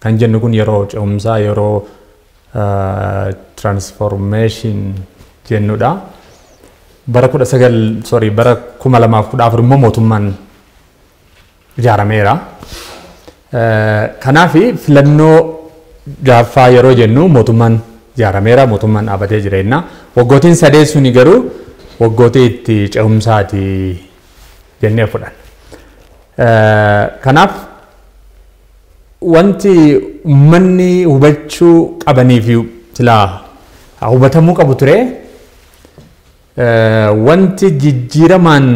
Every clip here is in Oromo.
Kan jennu kun yeroo ce'umsaa yeroo transformation jennudha. Bara kudha sagal sorry bara kuma lamaaf kudha afur immoo mootummaan ijaarameera. Kanaaf filannoo jaaffaa yeroo jennu mootummaan ijaarameera mootummaan dhaabatee jireenya. Waggootiin sadee suni garuu waggootii itti ce'umsaati jennee fudhanna. Kanaaf Wanti ummanni hubachuu qabaniifi silaa hubatamuu qabu ture wanti jijjiiramaan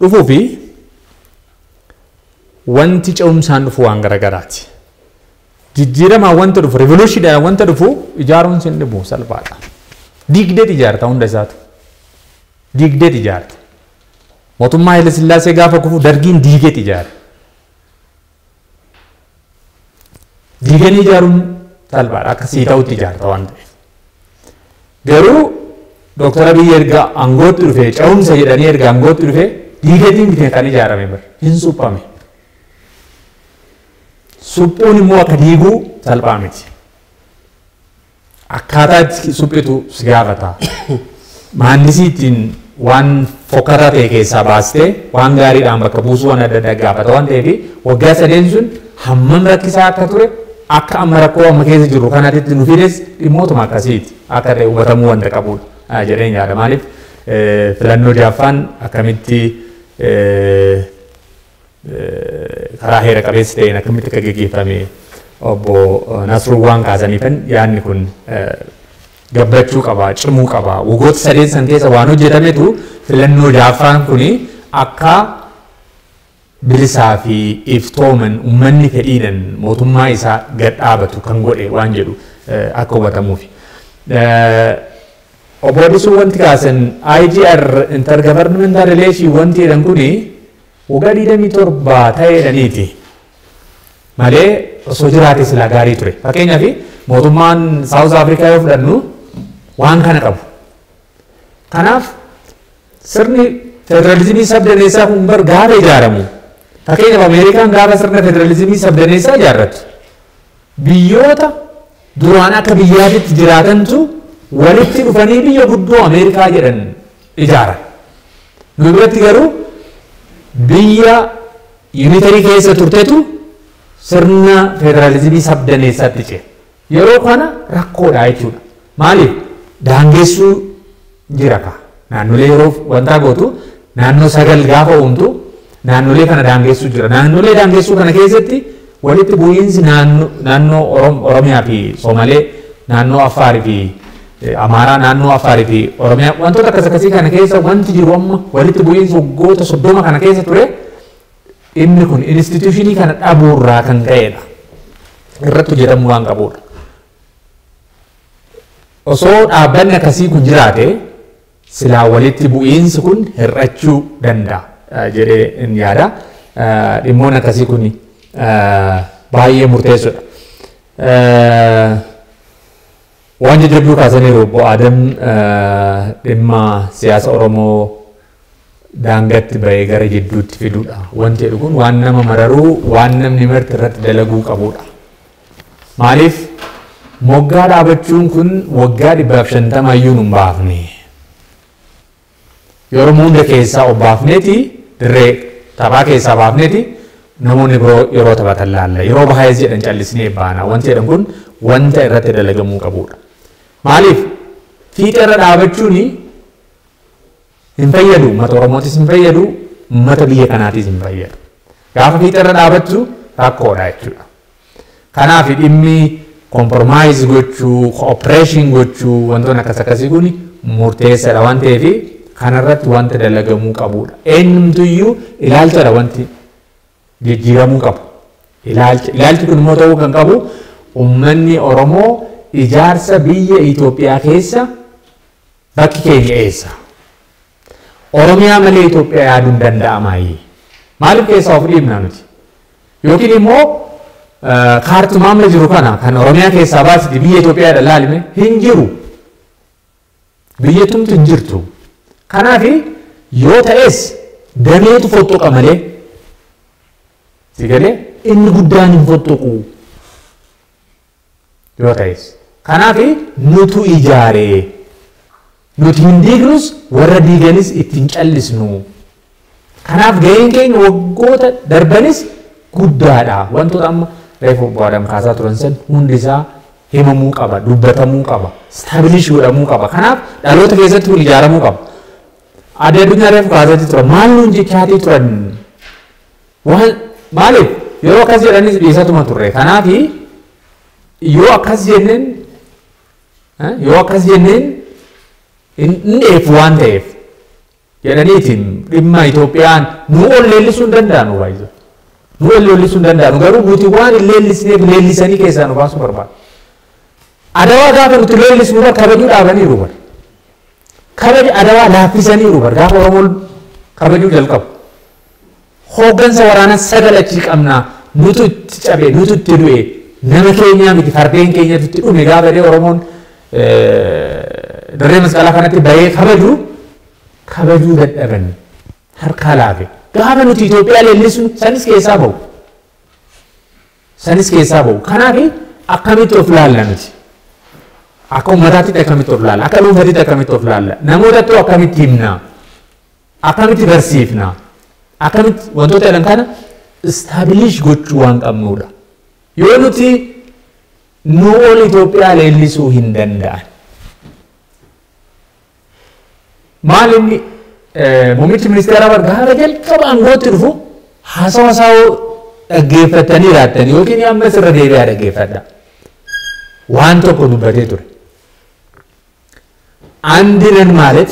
dhufufi wanti ce'umsaan dhufu waan garagaraati. Jijjiiramaan wanta dhufu, rivoluushiidhaan wanta dhufu ijaaruun sin dhibu salphaadha. Diigdeet ijaarta hunda isaatu. Diigdeet ijaarta. Mootummaa Hayilasillaasee gaafa kufu dargiin diigeet ijaare. Diiganii ijaaruun salphaadha akka sii ta'utti ijaarta waan ta'eef. Garuu Dooktar Abiyyi erga aangootti dhufee ce'umsa jedhanii erga aangootti dhufee diigatiin bitee kan ijaarame bar hin suphame. Suphuun immoo akka diiguu salphaa miti. Akkaataa itti suphitu si gaafata. Maandisii ittiin waan fokkataa ta'e keessaa baastee waan gaariidhaan bakka buusuu waan adda addaa gaafata waan ta'eef waggaa sadeen sun hammam rakkisaa akka ture akka amma rakkoo amma keessa jirru kanaatitti nu fides dhimmootuma akkasiiti akka ta'e hubatamuu wanta qabudha jedheen yaada. Maaliif filannoo jaaffaan akkamitti karaa heera qabeessa ta'een akkamitti akka geggeeffame obbo Nasruu waan kaasaniifan yaadni kun gabbachuu qaba, cimuu qaba. Wagoota sadeen san keessa waan hojjetametu filannoo jaaffaan kun akka bilisaa fi iftooman ummanni fedhiidhan mootummaa isaa gad dhaabatu kan godhe waan jedhu akka hubatamuufi. Obbo Addisuu wanti kaasan IGR intergovernmental relation wanti jedhan kuni Waggaa 27 ta'eedhaniiti malee osoo jiraate silaa gaarii ture. Fakkeenyaaf mootummaan Saawuz Afrikaa yoo fudhannu waan kana qabu. Kanaaf sirni federaalizimii sabdaneessaa kun bar gaafa ijaaramu fakkeenyaaf Ameerikaan gaafa sirna federaalizimii sabdaneessaa ijaarrattu Biyyoota duraan akka biyyaatitti jiraatantu walitti dhufanii biyya guddoo Ameerikaa jedhan ijaaran. Nu biratti garuu biyya yuunitarii keessa turtetu sirna federaalizimii sabdaneessaatti ce'e. Yeroo kana rakkoodha jechuudha. Maaliif daangessuu jira kaa. Naannolee yeroo wantaa gootu naannoo sagal gaafa uumtu naannolee kana daangessuu jira. Naannolee daangessuu kana keessatti walitti bu'iinsi naanno- naannoo Orom- Oromiyaa fi Soomalee, naannoo Affaarii fi eh, Amaaraa, naannoo Affaarii fi Oromiyaa wantoota akkas akkasii kana keessa wanti jiru amma walitti bu'iinsi waggoota soddoma kana keessa ture dhimmi kun instituushinii kana dhabuurraa kan ka'edha. Irratti hojjetamuu waan qabuudha. Osoo dhaabbanni akkasii kun jiraate silaa walitti bu'iinsi kun hir'achuu danda'a jedhee in yaada. Dhimmoonni akkasii kun baay'ee murteessoodha. Waan jajjabduu kaasaniiru obbo Aadam dhimma siyaasa Oromoo daangatti ba'ee gara jidduutti fiduudha. Wanti jedhu kun waan nama mararuu waan namni marti irratti dalaguu qabuudha. Maaliif moggaa dhaabachuun kun waggaa dhibbaaf shantama iyyuu nun baafne. Yeroo hunda keessaa of baafneeti dirree taphaa keessaa baafneeti namoonni biroo yeroo taphatan laalla. Yeroo baay'ees jedhan callisnee baana. Wanti jedhan kun wanta irratti dalagamuu qabudha. Maaliif fiixeerra dhaabachuun Hin fayyadu ummata Oromootis hin fayyadu ummata biyya kanaatis hin fayyadu. Gaafa fiixa irra dhaabattu rakkoodha jechuudha. Kanaaf dhimmi kompromaayiz gochuu, koopereeshin gochuu wantoonni akkas akkasii kun murteessaadha waan ta'eef kanarratti wanta dalagamuu qabudha. Eenyumtuyyuu ilaalchadha wanti jijjiiramuu qabu. Ilaalcha ilaalchi kun immoo ta'uu kan qabu ummanni Oromoo ijaarsa biyya Itoophiyaa keessa bakki keenya eessa? Oromiyaa malee Itoophiyaa yaaduun danda'amaayii? Maaliif keessaa of dhiibna nuti? Yookiin immoo kaartumaa amma jiru kana kan Oromiyaa keessaa baasiti biyya Itoophiyaa dha laalime hin jiru. Biyyattumti hin jirtu. Kanaaf yoo ta'es dameetu fottoqa malee. Si galee inni guddaan hin fottoqu. Yoo ta'es. Kanaaf nutu ijaaree. Nuti hin diignus warra diiganis ittiin callisnu. Kanaaf gaheen keenya waggoota darbanis guddaadha. Wantoota amma reefu obbo Adam kaasaa turan san hundi isaa himamuu qaba, dubbatamuu qaba, staabilish godhamuu qaba. Kanaaf dhaloota keessatti kun ijaaramuu qaba. Adda addunyaa reefu kaasatii turan maal nuun jechaatii turan waan maaliif yeroo akkas jedhanis dhiisatuma turre. Kanaaf yoo akkas jenneen yoo akkas jenneen hin dheefu waan ta'eef jedhaniitiin dhimma Itoophiyaan nu ol leellisuu hin danda'anu baay'ee. Nu ol leellisuu hin danda'anu garuu nuti waan hin leellisneef leellisanii keessaa nu baasuu barbaadu. Adawaa gaafa nuti leellisnu bar kabajuu dhaabaniiru bar. Kabaja adawaa laaffisaniiru bar gaafa Oromoon kabajuu jalqabu. Hooggansa waraanaa sagal achii qabna. Nutu itti cabe, nutu itti du'e. Nama keenyaa miti fardeen keenyatu itti dhume gaafa jedhee Oromoon dirree masqalaa kanatti bahee kabaju kabajuu dadhaban harkaa laafe. Gaafa nuti Itoophiyaa leellisnu sanis keessaa bahu. Sanis keessaa bahu. Kanaaf akkamitti of laalla nuti? Akka uummataatti akkamitti of laalla? Akka dhuunfaatti akkamitti of laalla? Namootattuu akkamitti himna? Akkamitti garsiifna? Akkamitti wantoota jedhan kana istaabiliish gochuu waan qabnuudha. Yoo nuti nu ol Itoophiyaa leellisuu hin danda'an. Maal inni muummichi ministeeraa bar gaafa jalqaba aangootti dhufu haasawa isaa dhaggeeffattanii laattan yookiin ammas irra deebi'aa dhaggeeffadha. Waan tokko dubbatee ture. Andinan maalet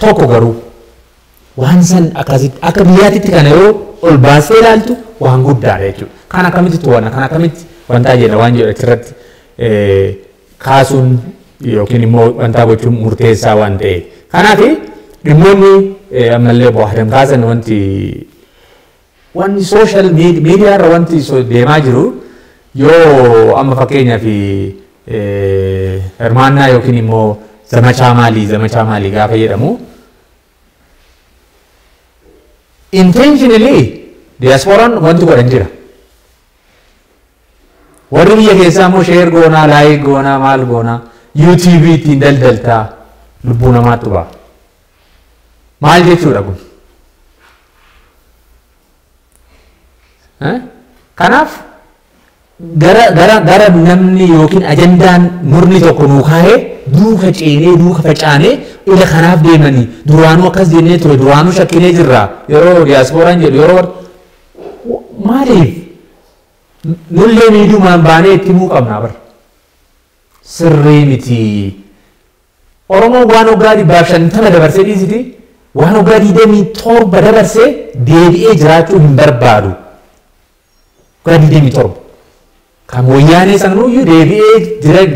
Tokko garuu waan san akkasitti akka biyyaatitti kana yoo ol baastee ilaaltu waan guddaadha jechuudha. Kan akkamitti to'anna kan akkamitti wantaa jenna waan jedhu achirratti kaasuun yookiin immoo wantaa gochuun murteessaa waan ta'e. Kanaaf dhimmoonni ammallee boohadan kaasan wanti Wanni social media media irra wanti so deemaa jiru yoo amma fakkeenyaaf hirmaannaa yookiin immoo zamachaa maalii zamachaa maalii gaafa jedhamu intentionally diasporaan wanti godhan jira. Warri biyya keessaa immoo sheer goonaa, laayik goonaa, maal goonaa, yuutuubii ittiin daldaltaa lubbuu namaatti ba'a. Maal jechuudha kun? Kanaaf gara gara gara namni yookiin ajandaan murni tokko nuu kaa'ee duuka ceenee duuka facaanee ila kanaaf deemanii duraanuu akkas jennee ture duraanuu shakkinee jirra yeroo diyaaspooraan jedhu yeroo maaliif nullee miidhumaan baanee itti himuu qabna bara. sirrii miti. Oromoon waan waggaa dhibbaaf shantama dabarsee dhiisiti waan waggaa digdamii torba dabarse deebi'ee jiraachuu hin barbaadu. Waggaa digdamii torba. Kan wayyaanee sananuyyuu deebi'ee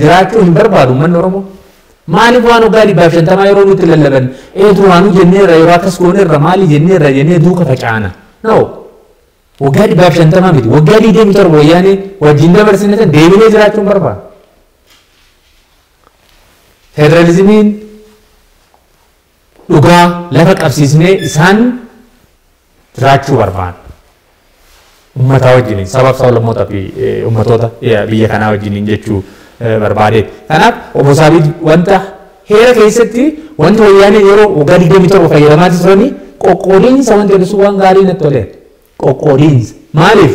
jiraachuu hin barbaadu uummanni Oromoo. Maaliif waan waggaa dhibbaaf shantamaa yeroo nutti lallaban ee duraanuu jenneerra yeroo akkas goonerra maali jenneerra jennee duuka facaana. No. Waggaa dhibbaaf shantamaa miti waggaa digdamii torba wayyaanee wajjin dabarsine san deebinee jiraachuun barbaada. Federalizimiin dhugaa lafa qabsiisnee isaan jiraachuu barbaada. Ummataa wajjiniin sabaaf sablammoota fi ummatoota biyya kanaa wajjiniin jechuu barbaadeeti. Kanaaf obbo Saabiid wanta Heera keessatti wanti wayyaaneen yeroo waggaa 27 fayyadamaa turanii qoqqoodiinsa wanti jedhu sun waan gaarii natti toleera. Qoqqoodiinsa. Maaliif?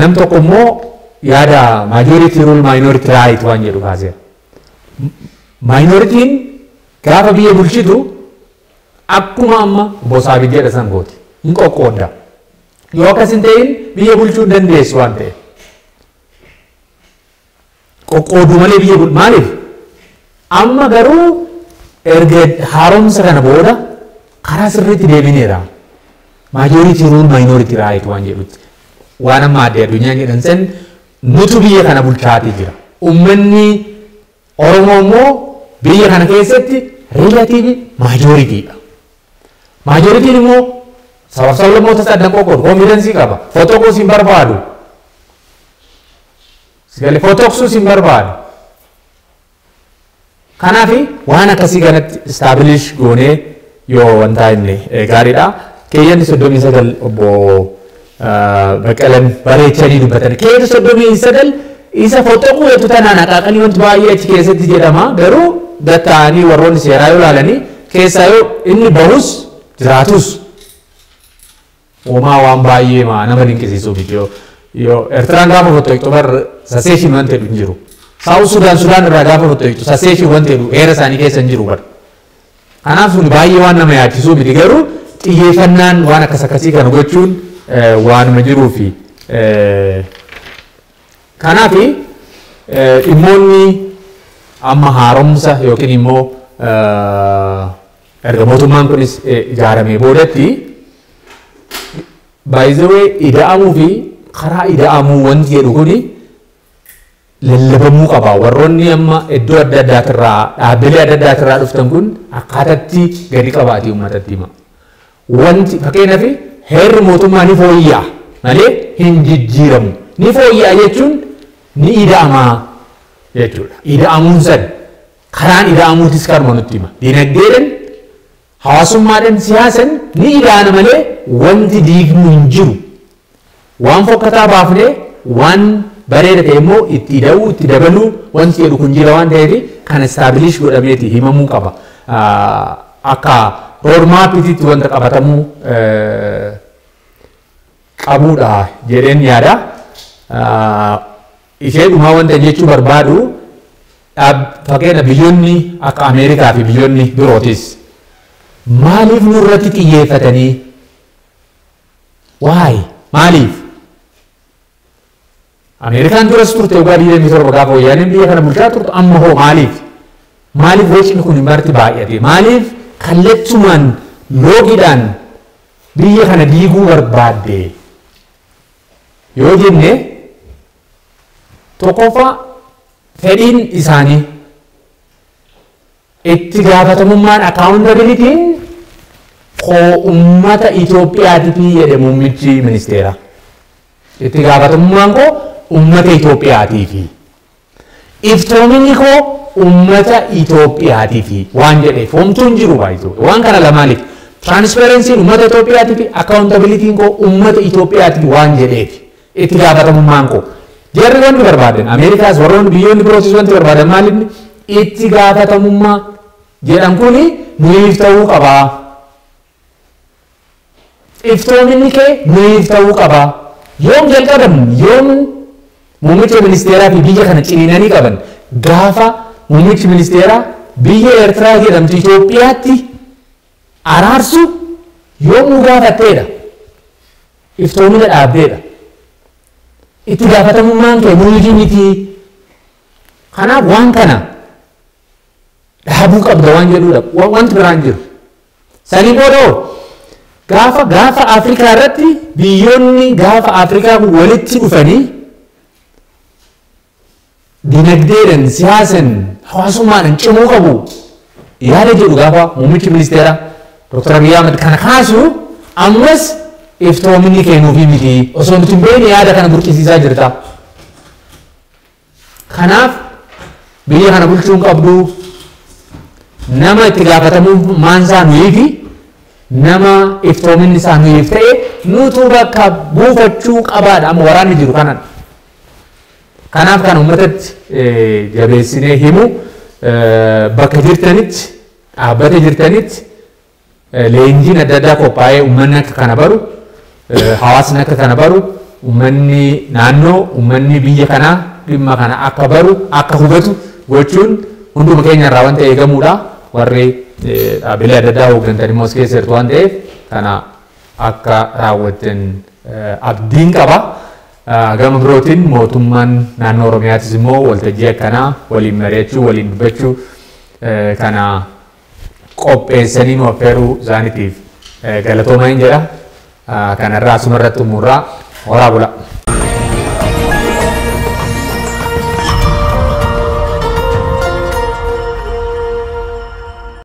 Nam tokko immoo yaada majority rule minority right waan jedhu kaaseera. Minoritiin gaafa biyya bulchitu akkuma amma bosaabi jedha san gooti. Hin qoqqoodda. Yoo akkas hin ta'in biyya bulchuu dandeessu waan ta'eef. qoqqooduu malee biyya bulchu maaliif amma garuu erga haaromsa kana booda karaa sirriitti deebineera maajooritii ruul maayinooritii raayit waan jedhutti waan amma addee addunyaan jedhan san nutu biyya kana bulchaatii jira ummanni oromoo immoo biyya kana keessatti riilatiivi maajooritiidha maajooritiin immoo sabab sablammoota saddan qoqqoodu koomidansii qaba fotokoos hin barbaadu Sigale fotoksuu sin barbaadu. Kanaaf waan akkasii kanatti establish goonee yoo wantaa inni gaariidha. Keeyyanni soddomii sagal obbo Baqqalan bareechanii dubbatan. Keeyyanni soddomii sagal isa fotoquu jettu tanaan haqaaqanii wanti baay'ee achi keessatti jedhama. Garuu gatta'anii warroonni seeraa yoo ilaalanii keessaa yoo inni bahus jiraatus Uumaa waan baay'ee maa nama dinqisiisuu miti yoo yoo Ertiraan gaafa fottoqxu bar saseeshin wanti jedhu hin jiru. Saawus Sudaan Sudaan irraa gaafa fottoqxu saseeshin wanti jedhu heera isaanii keessa hin jiru bar. Kanaaf suni baay'ee waan nama yaachisuu miti garuu xiyyeeffannaan waan akkas akkasii kana gochuun waanuma jiruu fi kanaaf dhimmoonni amma haaromsa yookiin immoo Erga mootummaan kunis ijaaramee boodatti by the way ida'amuu fi karaa ida'amuu wanti jedhu kuni lallabamuu qaba. Warroonni amma iddoo adda addaatirraa dhaabbilee adda addaatirraa dhuftan kun akkaatatti gadi qabaati uummatatti hima. Wanti fakkeenyaaf heerri mootummaa ni fooyya'a malee hin jijjiiramu. Ni fooyya'a jechuun ni ida'ama jechuudha. Ida'amuun san Karaan ida'amuutis kanuma nutti hima. Dinagdeedhan, hawaasummaadhan, siyaasan ni ida'ana malee wanti diignu hin jiru. Waan fokkataa baafnee waan bareeda ta'e immoo itti ida'uu, itti dabaluu wanti jedhu kun jira waan ta'eef kana istaabiliish godhameeti himamuu qaba. Akka roodmaappititti wanta qabatamuu qabuudha jedheen yaada. Ishee dhumaa wanta jechuu barbaadu dhaab fakkeenya biyyonni akka Ameerikaa fi biyyonni birootis maaliif nurratti xiyyeeffatanii why maaliif Ameerikaan duras turte waggaa 27 gaafa wayyaaneen biyya kana bulchaa turtu amma hoo maaliif maaliif wacni kun marti baay'ate maaliif kallattumaan loogiidhaan biyya kana diiguu barbaadde yoo jenne tokkoffaa fedhiin isaanii itti gaafatamummaan akkaawuntabilitiin koo ummata Itoophiyaatifi jedhe muummichi ministeeraa. Itti gaafatamummaan koo ummata Itoophiyaatiifi. Iftoominni koo ummata Itoophiyaatifi waan jedheef homtuu hin jiru by the way. Waan kana lamaaniif transparency'n ummata Itoophiyaatifi accountability'n koo ummata Itoophiyaatifi waan jedheef itti gaafatamummaan koo. Jarri wanti barbaadan Ameerikaas warroonni biyyoonni birootis wanti barbaadan maalinni itti gaafatamummaa jedhan kuni nuyiif ta'uu qabaa. Iftoominni kee mayiif ta'uu qaba? Yoom jalqaban? Yoom Muummicha Ministeeraa fi biyya kana ciniinanii qaban? Gaafa Muummichi Ministeeraa biyya Eertiraa jedhamtu Itoophiyaatti araarsu yoom nu gaafatteedha? Iftoomina dhaabdeedha. Itti gaafatamummaan kee nuyifi miti. Kanaaf waan kana dhaabuu qabda waan jedhuudha. Wanti biraan jiru. Sanii booda hoo gaafa gaafa Afrikaa irratti biyyoonni gaafa Afrikaa kun walitti dhufanii dinagdeedhaan, siyaasan, hawaasummaadhaan cimuu qabu yaada jedhu gaafa muummichi ministeeraa Dr. Abiy Ahmed kana kaasu ammas iftoominni keenuufii miti osoo nuti hin beekne yaada kana burqisiisaa jirta. Kanaaf biyya kana bulchuu hin qabdu nama itti gaafatamummaan isaa nuyii fi nama iftoominni isaa nuyiif ta'e nutu bakka buufachuu qabaadha amma waraanni jiru kanan. Kanaaf kan uummatatti jabeessinee himu bakka jirtanitti dhaabbata jirtanitti Leenjiin adda addaa qophaa'ee ummanni akka kana baru, hawaasni akka kana baru, ummanni naannoo, ummanni biyya kanaa dhimma kana akka baru, akka hubatu gochuun hunduma keenya irraa wanta eegamuudha. Warri dhaabbilee adda addaa hooggantan immoo as keessa jirtu waan ta'eef kana akka raawwattan abdiin qaba. Gama birootiin mootummaan naannoo Oromiyaatis immoo waltajjii akkanaa waliin mari'achuu, waliin dubbachuu kana qopheessanii nu affeeruu isaaniitiif galatoomaa hin jedha. Kanarraa asuma irratti xumurraa horaa bulaa.